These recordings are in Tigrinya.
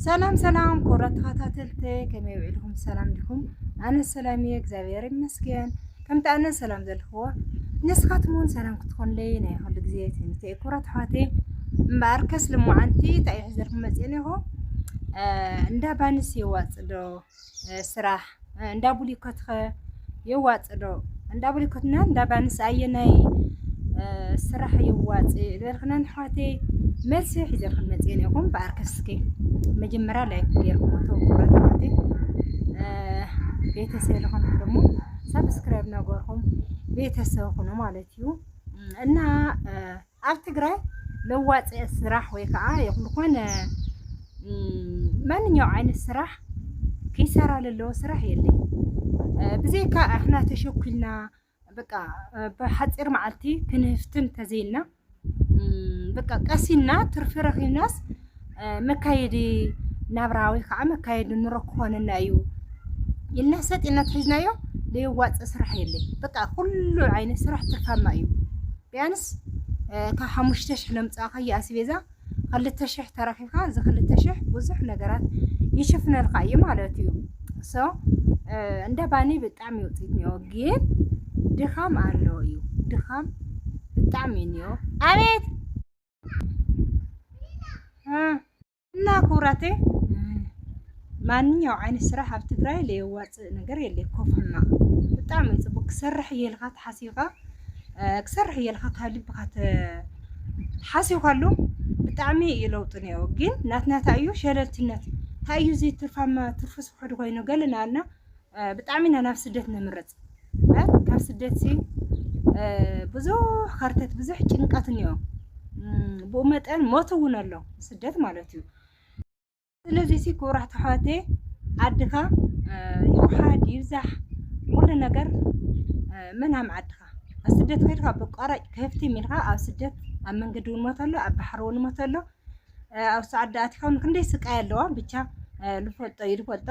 ሰላም ሰላም ክቡራት ተኸታተልቲ ከመይ ውዒልኩም ሰላም ዲኹም? ኣነ ሰላም እየ እግዚኣብሔር ይመስገን። ከምቲ ኣነ ሰላም ዘልክዎ ንስኻትም እውን ሰላም ክትኾንለይ ናይ ኩሉ ግዜ ትምኒተ እዩ። ክቡራት ኣሕዋተይ እምበኣር ከስ ልሙዓንቲ እንታይ እዩ ሕዘልኩም መፅኤን ኢኹ እንዳ ባንስ የዋፅእ ዶ ስራሕ እንዳ ቡሊኮት ኸ የዋፅ ዶ? እንዳ ቡሊኮትና እንዳ ባንስ ኣየናይ ስራሕ የዋፅ ዝበልክናን ኣሕዋተይ መልሲ ሒዘልክን መፅኤን ኢኹም በኣር ከስኪ መጀመሪያ ላይክ ገይርኩም ተወኩረት ኣሕዋተይ ቤተሰብ ለኾንኩም ደግሞ ሳብስክራይብ ነገርኩም ቤተሰብ ኹኑ ማለት እዩ እና ኣብ ትግራይ ለዋጢ ስራሕ ወይ ከዓ ዝኾነ ማንኛው ዓይነት ስራሕ ክይሰራ ለለዎ ስራሕ የለን ብዘይካ ኣሕና ተሸኩልና በቃ ብሓፂር መዓልቲ ክንህፍትም ተዘይና በቃ ቀሲና ትርፊ ረኺብናስ መካየዲ ናብራ ወይ ከዓ መካየዲ ኑሮ ክኾነና እዩ ኢልና ሰጥ ኢልና ተሒዝናዮ ለየዋፅእ ስራሕ የለይ። በቃ ኩሉ ዓይነት ስራሕ ትርፋማ እዩ። ቢያንስ ካብ ሓሙሽተ ሽሕ ለምፃእኻዮ ኣስቤዛ ክልተ ሽሕ ተረኪብካ እዚ ክልተ ሽሕ ብዙሕ ነገራት ይሽፍነልካ እዩ ማለት እዩ። ሶ እንደ ባኒ ብጣዕሚ ውፅኢት እኒኦ ግን ድኻም ኣለዎ እዩ ድኻም ብጣዕሚ እኒኦ ኣቤት እና ኩራቴ ማንኛው ዓይነት ስራሕ ኣብ ትግራይ ለየዋፅእ ነገር የለ ኮፍና ብጣዕሚ ፅቡቅ ክሰርሕ እየ ኢልካ ተሓሲብካ ክሰርሕ እየ ኢልካ ካብ ልብካ ሓሲብካሉ ብጣዕሚ እዩ ለውጢ ነዮ ግን ናትናታ እዩ ሸለልትነት እንታይ እዩ ዘይትርፋማ ትርፉ ስብሕዱ ኮይኑ ገለና ኣልና ብጣዕሚ ኢና ናብ ስደት ንምርፅ ካብ ስደት ሲ ብዙሕ ከርተት ብዙሕ ጭንቀት እኒኦ ብኡ መጠን ሞት እውን ኣሎ ስደት ማለት እዩ ስለዚ ሲ ክብራት ኣሕዋቴ ዓድኻ ይውሓድ ይብዛሕ ኩሉ ነገር መናም ዓድኻ ኣብ ስደት ከድካ ብቋራጭ ከፍቲ ሚልካ ኣብ ስደት ኣብ መንገዲ እውን ሞት ኣሎ ኣብ ባሕሪ እውን ሞት ኣሎ ኣብ ሰዓዳ ኣትካ ክንደይ ስቃይ ኣለዋ ብቻ ልፈልጦ ይልፈልጦ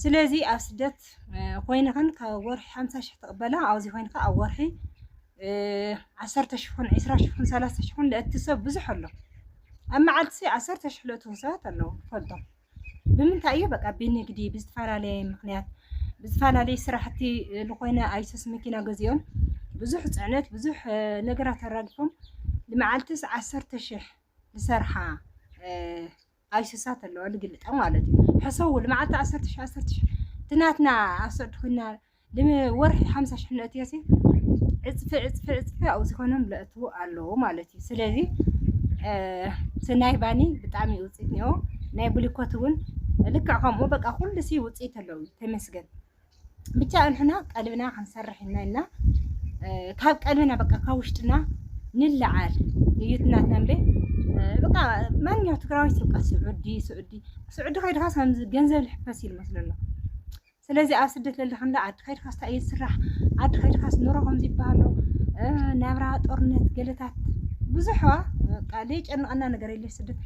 ስለዚ ኣብ ስደት ዓመት ኮይንኽን ካብ ወርሒ ሓምሳ ሽሕ ትቕበላ ኣብዚ ኮይንካ ኣብ ወርሒ ዓሰርተ ሽሕን ዕስራ ሽሕን ሰላሳ ሽሕን ለእቲ ሰብ ብዙሕ ኣሎ ኣብ መዓልቲ ዓሰርተ ሽሕ ለእትዉ ሰባት ኣለዉ ፈልጦም ብምንታይ እዩ በቃ ብንግዲ ብዝተፈላለየ ምክንያት ብዝፈላለየ ስራሕቲ ዝኾነ ኣይሱስ መኪና ገዚኦም ብዙሕ ፅዕነት ብዙሕ ነገራት ኣራግፎም ንመዓልትስ ዓሰርተ ሽሕ ዝሰርሓ ኣይስሳት ኣለዋ ልግልጣ ማለት እዩ ሕሰቡ ልመዓልቲ ዓሰርተ ሽሕ ዓሰርተ ሽሕ እቲ ናትና ኣብ ስዑዲ ኮይና ልወርሒ ሓምሳ ሽሕ ነእትዮሲ ዕፅፊ ዕፅፊ ዕፅፊ ኣብኡ ዝኾኖም ለእትዉ ኣለዉ ማለት እዩ ስለዚ ስናይ ባኒ ብጣዕሚ ውፅኢት እኒኦ ናይ ብሊኮት እውን ልክዕ ከምኡ በቃ ኩሉ ሲ ውፅኢት ኣለዉ ተመስገን ብቻ እንሕና ቀልብና ክንሰርሕ ኢና እና ካብ ቀልብና በቃ ካብ ውሽጥና ንለዓል እዩትና ተንቤ በቃ ማንኛው ትግራዊ በቃ ስዑዲ ስዑዲ ስዑዲ ከይድካ ከምዚ ገንዘብ ልሕፈስ እዩ ዝመስሎ ኣሎ ስለዚ ኣብ ስደት ለለካ እንዳ ዓዲ ከይድካ ስታ እዩ ዝስራሕ ዓዲ ከይድካ ስኖሮ ከምዚ ይበሃሎ ናብራ ጦርነት ገለታት ብዙሕዋ በቃ ዘይጨንቐና ነገር ሌሽ ስደት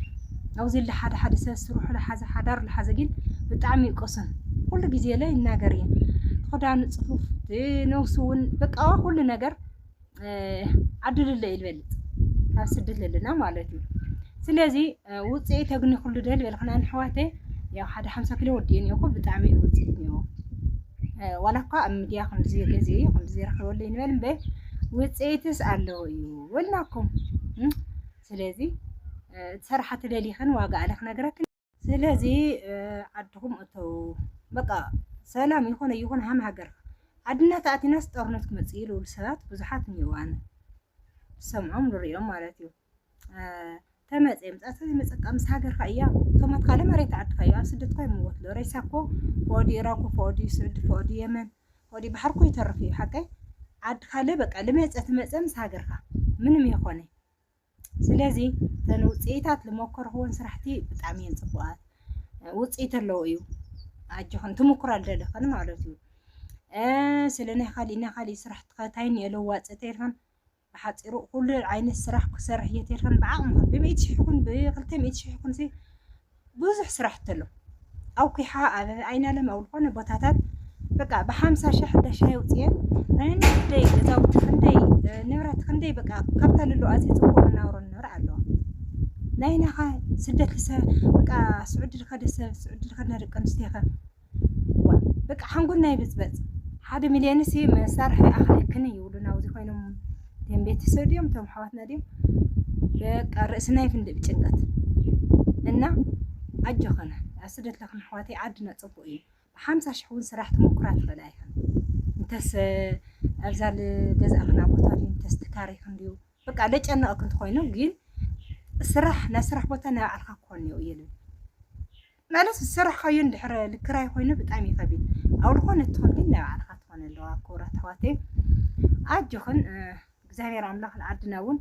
ኣውዚ ለ ሓደ ሓደ ሰብ ስርሑ ለሓዘ ሓዳሩ ለሓዘ ግን ብጣዕሚ ይቀሱን ኩሉ ግዜ ለ ይናገር እየ ክዳኑ ፅፉፍ ነብሱ እውን በቃ ኩሉ ነገር ዓዱ ልለ እዩ ልበልፅ ካብ ስደት ለለና ማለት እዩ ስለዚ ውፅኢ ተግኒ ኩሉ ደ ልበልክና ንሕዋተ ያው ሓደ ሓምሳ ኪሎ ወዲኡ እኒኦኩ ብጣዕሚ እዩ ውፅኢት እኒኦ ዋላ እኳ ኣብ ሚድያ ከምዚ ገዚ እዩ ከምዚ ረክበሉ ይንበል እምበ ውፅኢትስ ኣለዎ እዩ ወልናኩም ስለዚ ትሰርሓ ትደሊኽን ዋጋ ኣለ ክነግረክን ስለዚ ዓድኹም እተው በቃ ሰላም ይኾነ ይኹን ሃም ሃገር ዓድና ተኣቲናስ ጦርነት ክመፅእ እዩ ልብሉ ሰባት ብዙሓት እኒዋን ሰምዖም ንሪኦም ማለት እዩ ተመፀ ምፃእ ስለዚ መፀቃ ምስ ሃገርካ እያ ቶማት ካለ መሬት ዓድካ እዩ ኣብ ስደት ኳ ይምወት ሎ ሬሳ እኮ ፎዲ ኢራኮ ፎዲ ስዑዲ ፎዲ የመን ፎዲ ባሕር እኮ ይተርፍ እዩ ሓቀይ ዓድካ ለ በቃ ልመፀ ትመፀ ምስ ሃገርካ ምንም የኾነ ስለዚ እተን ውፅኢታት ዝሞከርክዎን ስራሕቲ ብጣዕሚ እየን ፅቡቓት ውፅኢት ኣለዎ እዩ ኣጆኽን ትምኩራ ደለኽን ማለት እዩ ስለ ናይ ካሊእ ናይ ካሊእ ስራሕ ተኸታይን የለዋፅ ተልኽን ብሓፂሩ ኩሉ ዓይነት ስራሕ ክሰርሕ እየ ተልኽን ብዓቕምኽን ብሚእቲ ሽሕ ይኹን ብክልተ ሚእቲ ሽሕ ይኹን ብዙሕ ስራሕ ተሎ ኣውኪሓ ኣብ ኣይናለም ኣብ ዝኾነ ቦታታት በቃ ብሓምሳ ሽሕ ሕደሻ የውፅየን ክንደይ ገዛውቲ ክንደይ ንብረት ክንደይ በቃ ካብታ ልሉ ኣዝዩ ፅቡቅ መናብሮ ንነብር ኣለዋ ናይናኻ ስደት ልሰ በቃ ስዑዲ ልኸደ ሰብ ስዑዲ ልኸድና ደቂ ኣንስትዮኸ ዋእ በቃ ሓንጎልና ይብጽበጽ ሓደ ሚልዮን ሲ መሳርሒ ኣኽለክን እዩ ውሉ ናብዚ ኮይኖም ቶም ቤተሰብ ድዮም ቶም ኣሕዋትና ድዮም በቃ ርእስና ይፍንድእ ብጭንቀት እና ኣጆኸነ ኣብ ስደት ለኽን ኣሕዋተይ ዓድና ጽቡቅ እዩ ብሓምሳ ሽሕ እውን ስራሕ ትምኩራ ትኽእል ኣይኽን እንተስ ኣብዛ ገዛእኽና ቦታ ድዩ እንተስ ትካሪኽን ድዩ በቃ ለጨነቐክን ትኾይኑ ግን ስራሕ ናይ ስራሕ ቦታ ናይ ባዕልካ ክኾን እየ ልብል ማለት ዝሰራሕካዮ እንድሕር ልክራይ ኮይኑ ብጣዕሚ እዩ ከቢድ ኣብ ዝኾነ እትኾን ግን ናይ ባዕልኻ ትኾን ኣለዋ ክቡራት ኣሕዋተይ ኣጆኽን እግዚኣብሔር ኣምላኽ ንዓድና እውን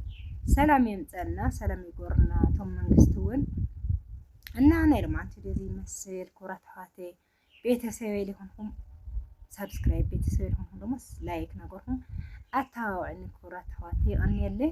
ሰላም የምፀልና ሰላም ይጎርና እቶም መንግስቲ እውን እና ናይ ልማንቲ ደዚ ይመስል ክቡራት ኣሕዋተይ ቤተሰበይ ሊኾንኩም ሳብስክራይብ ቤተሰበይ ሊኾንኩም ደግሞ ላይክ ነገርኩም ኣተባባዕኒ ክቡራት ኣሕዋተይ ይቐንየለይ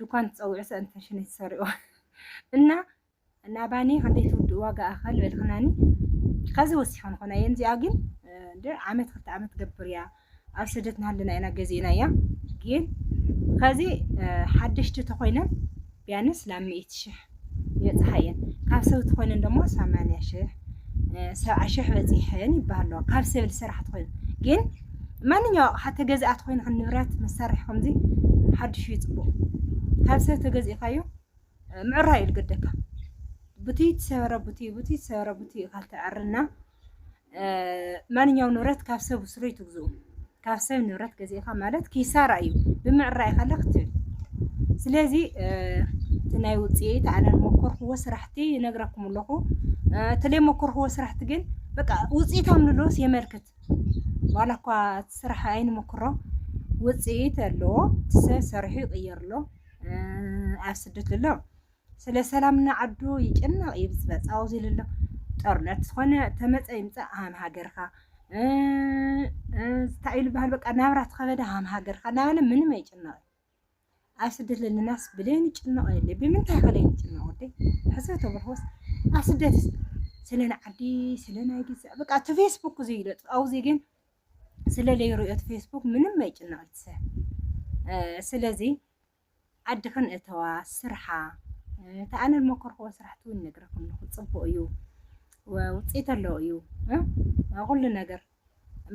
ዱኳን ትጸውዑ ሰእን ፈሽን ትሰርኡ እና ናባኒ ከንደይ ትውድእ ዋጋ ኣኸል በልክናኒ ከዚ ወሲኸን ኾነ እየን እዚኣ ግን ዓመት ክልተ ዓመት ገብር እያ ኣብ ስደት ናሃለና ኢና ገዜና እያ ግን ከዚ ሓደሽቲ ተኾይነ ቢያንስ ላብ ሚእቲ ሽሕ የፅሓየን ካብ ሰብ ትኾይነን ደሞ ሰማንያ ሽሕ ሰብዓ ሽሕ በፂሐን ይበሃሎ ካብ ሰብ ዝሰራሕ ትኾይኑ ግን ማንኛው ኣቕሓ ተገዚኣ ትኾይኑ ንብረት መሳርሒ ከምዚ ሓድሹ ይፅቡቕ ካብ ሰብ ተገዚእካዮ ምዕራይ እዩ ዝገደካ ቡቲ ትሰበረ ቡቲ ቡቲ ትሰበረ ቡቲ ኢኻ ትዕርና ማንኛውም ንብረት ካብ ሰብ ስሩይ ትግዝኡ ካብ ሰብ ንብረት ገዚእኻ ማለት ኪሳራ እዩ ብምዕራይ ኸለ ክትብል ስለዚ እቲ ናይ ውፅኢት ኣነ መኮርክዎ ስራሕቲ ይነግረኩም ኣለኹ እተለይ መኮርክዎ ስራሕቲ ግን በቃ ውፅኢታም ንሎስ የመልክት ዋላ እኳ ስራሕ ኣይንመክሮ ውፅኢት ኣለዎ ሰብ ሰሪሑ ይቕየር ኣሎ ኣብ ስደት ኣሎ ስለ ሰላም ንዓዱ ይጭነቕ እዩ ብዝበፅ ኣውዚ ልሎ ጦርነት ዝኾነ ተመፀ ይምፃእ ሃም ሃገርካ እንታይ ኢሉ በሃል በቃ ናብራ ተኸበደ ሃም ሃገርካ እናበለ ምንም ኣይጭነቕ ኣብ ስደት ዘለናስ ብሌን ይጭነቕ የለ ብምንታይ ከለይ ይጭነቕ ወዲ ሕሰብ ተብርሆስ ኣብ ስደት ስለ ንዓዲ ስለ ናይ ግዛእ በቃ እቲ ፌስቡክ ዘይለጥ ኣውዚ ግን ስለ ለይርእዮ እቲ ፌስቡክ ምንም ኣይጭነቕ ይትሰብ ስለዚ ዓድኽን እተዋ ስርሓ እቲ ኣነ ዝመከርክዎ ስራሕቲ እውን ነግረኩም ኣለኹ ፅቡቅ እዩ ውፅኢት ኣለዎ እዩ ኩሉ ነገር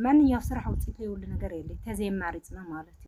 ማንኛው ስራሕ ውፅኢት ዘይብሉ ነገር የለ ተዘይማሪፅና ማለት እዩ